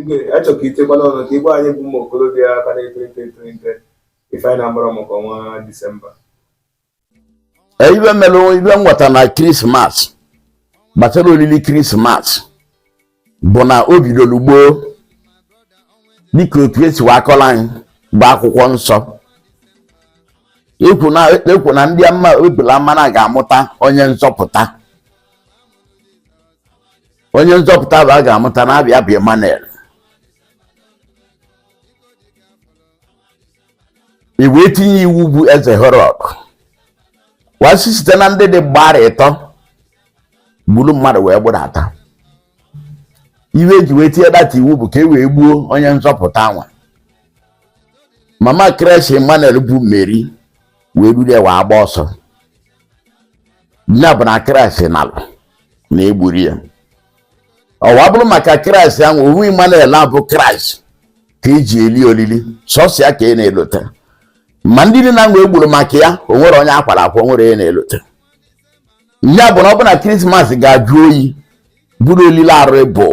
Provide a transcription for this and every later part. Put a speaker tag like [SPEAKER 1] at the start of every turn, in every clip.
[SPEAKER 1] igwe achọ ka itinyekwa ọnụ ka ị gwa anyị bụ ụmụ okorobịa ka na-eto eto eto eto ife anyị na-agbara maka ọnwa disemba
[SPEAKER 2] e, ife mere ife nweta na krismas gbasara olili krismas bụ na o bidoro gboo dịka otu esi wee akọla anyị bụ akwụkwọ nsọ ekwu na ndị amụma ebula amụma na a ga-amụta onye nzọpụta onye nzọpụta ahụ a ga-amụta na-abịa bụ Emmanuel e wee tinye iwu bụ eze Herọd wee sị site na ndị dị gba arọ ịtọ gburu mmadụ wee gbudata ife eji wee tinye that iwu bụ ka e wee gbuo onye nzọpụta nwa mama kraịst Emmanuel bụ Meri wee duru ya wee gbaa ọsọ ya bụ na kraịst nalụ na egburo ya ọ wee bụrụ maka kraịst ahụ ọ wụ Emmanuel a bụ kraịst ka eji eli olili sọsọ ya ka a na-elota ma ndị niile ahụ egburu maka ya o nwerọ onye akwara akwa o nwerọ onye a na-elota ya bụ na ọ bụ na krismas ga-ajụ oyi bụrụ olili arụ bụ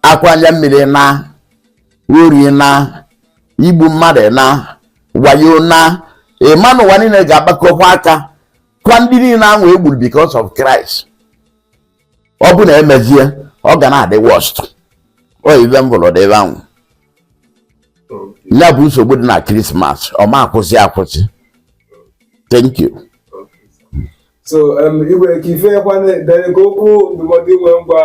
[SPEAKER 2] akwa anya mmiri na ori na igbu mmadụ na wayo na ị ma na ụwa niile ga-agbakọkwa aka kwaa ndị niile ahụ egburu because of Christ ọ bụ na emezie ọ ga na-adị worst ọ ife m fụrụ dị ebe ahụ ya bụ nsogbu dị na Christmas ọ ma akwụsị akwụsị thank you
[SPEAKER 1] so um, igwe kee ife kwanụ dị ka okwu ndụmọdụ i nwe ịgwa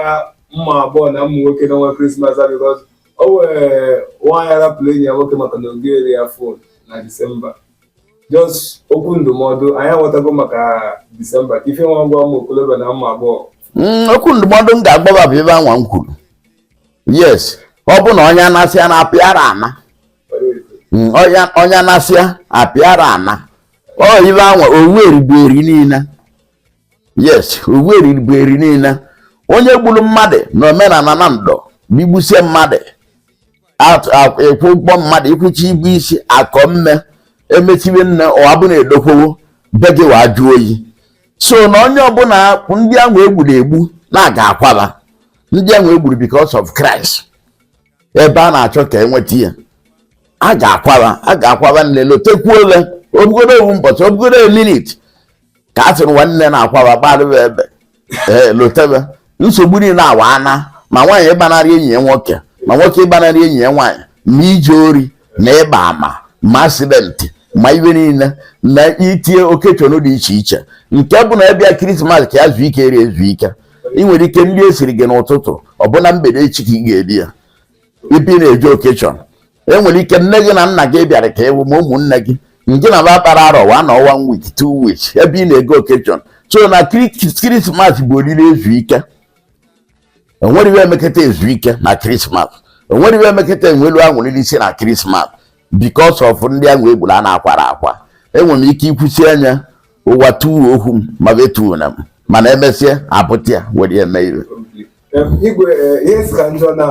[SPEAKER 1] ụmụ agbọọ na ụmụ nwoke n'ọnwa krismas a because o nwere nwaanyị rapụrụ enyi ya nwoke maka na o gorọ ya phone na disemba just okwu ndụmọdụ anyị aghọtago maka disemba kee ife i nwe ịgwa ụmụ okolobịa na ụmụ agbọghọ mm, okwu ndụmọdụ
[SPEAKER 2] m ga-agwa fa bụ ife anwa m kwuru yes ọ bụ na onye anasị a na-apịara ana onye anasịa apịara ana ọ ife anwa owu erigbu eri niile yes owu erigbu eri niile onye gburu mmadụ na omenala Nando bụ i gbusie mmadụ ị kwụọ ụgwọ mmadụ ị kwụchie ibu isi akọ mme emechibe nne ụwa bụ na-edokwowo be gị wee jụ oyi so na onye ọbụla ndị ahụ egburu egbu na a ga-akwaba ndị ahụ egburu because of Christ ebe a na-achọ ka enweta ya a ga-akwaba a ga-akwaba niile lotekwuo ole ọ bụgodu ofu mbọchị ọ bụgodu a minute ka a sịrị nwanne na-akwaba gbarịba ebe ee lotebe nsogbu niile anwa ana ma nwaanyị ịgbanarị enyi ya nwoke ma nwoke ịgbanarị enyi ya nwaanyị ma ije ori na ịgba ama ma accident ma iwe niile na itinye occasion dị iche iche nke bụ na a bịa krismas ka ya zuo ike rie ezu ike e nwere ike nri e siri gị n'ụtụtụ ọ bụ na mgbede echi ka ị ga-eri ya ebe ị na-eje occasion enwere ike nne gị na nna gị bịara ka ịwụ ma ụmụnne gị nke na ba kpara arọ one week two weeks ebe ị na-ego occasion so na krismas bụ oriri ezu ike onwere iwe emeketa ezu ike na krismas onwere iwe emeketa enwelu anwụrị si na krismas because of ndị ahụ e gburu a na-akwara akwa enwere m ike ikwusi anya ụwa tuwo okwu m ma betuo na m mana emesịa apụta ya were eme iwe igwe eh,
[SPEAKER 1] ihe si ka njọ na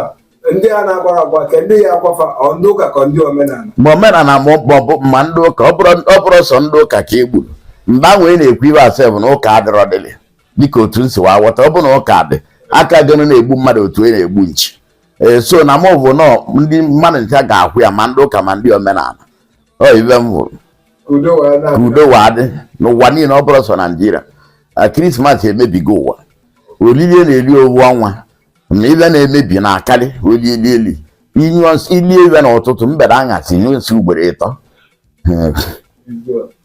[SPEAKER 1] ndị a na-akwara akwa ka ndị
[SPEAKER 2] ya-akwa fa ọ ndị ụka ka ndị omenala ma omenala ma ọ bụ ma ndị ụka ọ bụrụ sọ ndị ụka ka e gburu mgbe ahụ ị na-ekwu ibe a sef na ụka adịrọ dịlị dịka otu m si wee aghọta ọ bụ na ụka dị aka gịnị na-egbu mmadụ otu a na-egbu nchi ee so na mụ bụ na ọ ndị mmadụ ncha ga-akwa ya ma ndị ụka ma ndị omenala ọ ibe m hụrụ ka udo wee ka na-abịa. udo wee adị n'ụwa niile ọ bụrọ sọ Nigeria na krismas emebigo ụwa olili a na-eri owu ọnwa na ibe na-emebi na-akarị olili eli inyụọ nsị- ilie ibe n'ụtụtụ mgbede anyasị nyụọ nsị ugboro ịtọ Ee, Udo.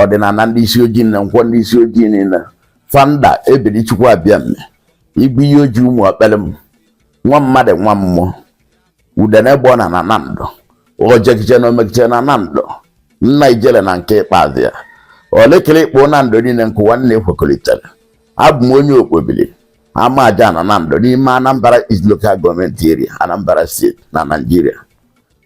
[SPEAKER 2] ọdịnala ndị isi ojii na nkwọ ndị isi ojii niile founder ebiri Chukwu Abịama igwe ihe ojii ụmụ okpere m nwa mmadụ nwa mmụọ udene gba ọna na Nando ojekiche na omekiche na Nando nna ijele na nke ikpeazụ ya olekere ikpo Nando niile nke ụwa niile kwekọrịtara abụ m onye Okpobiri Amajana Nando n'ime Anambra East Local Government Area Anambra State na Nigeria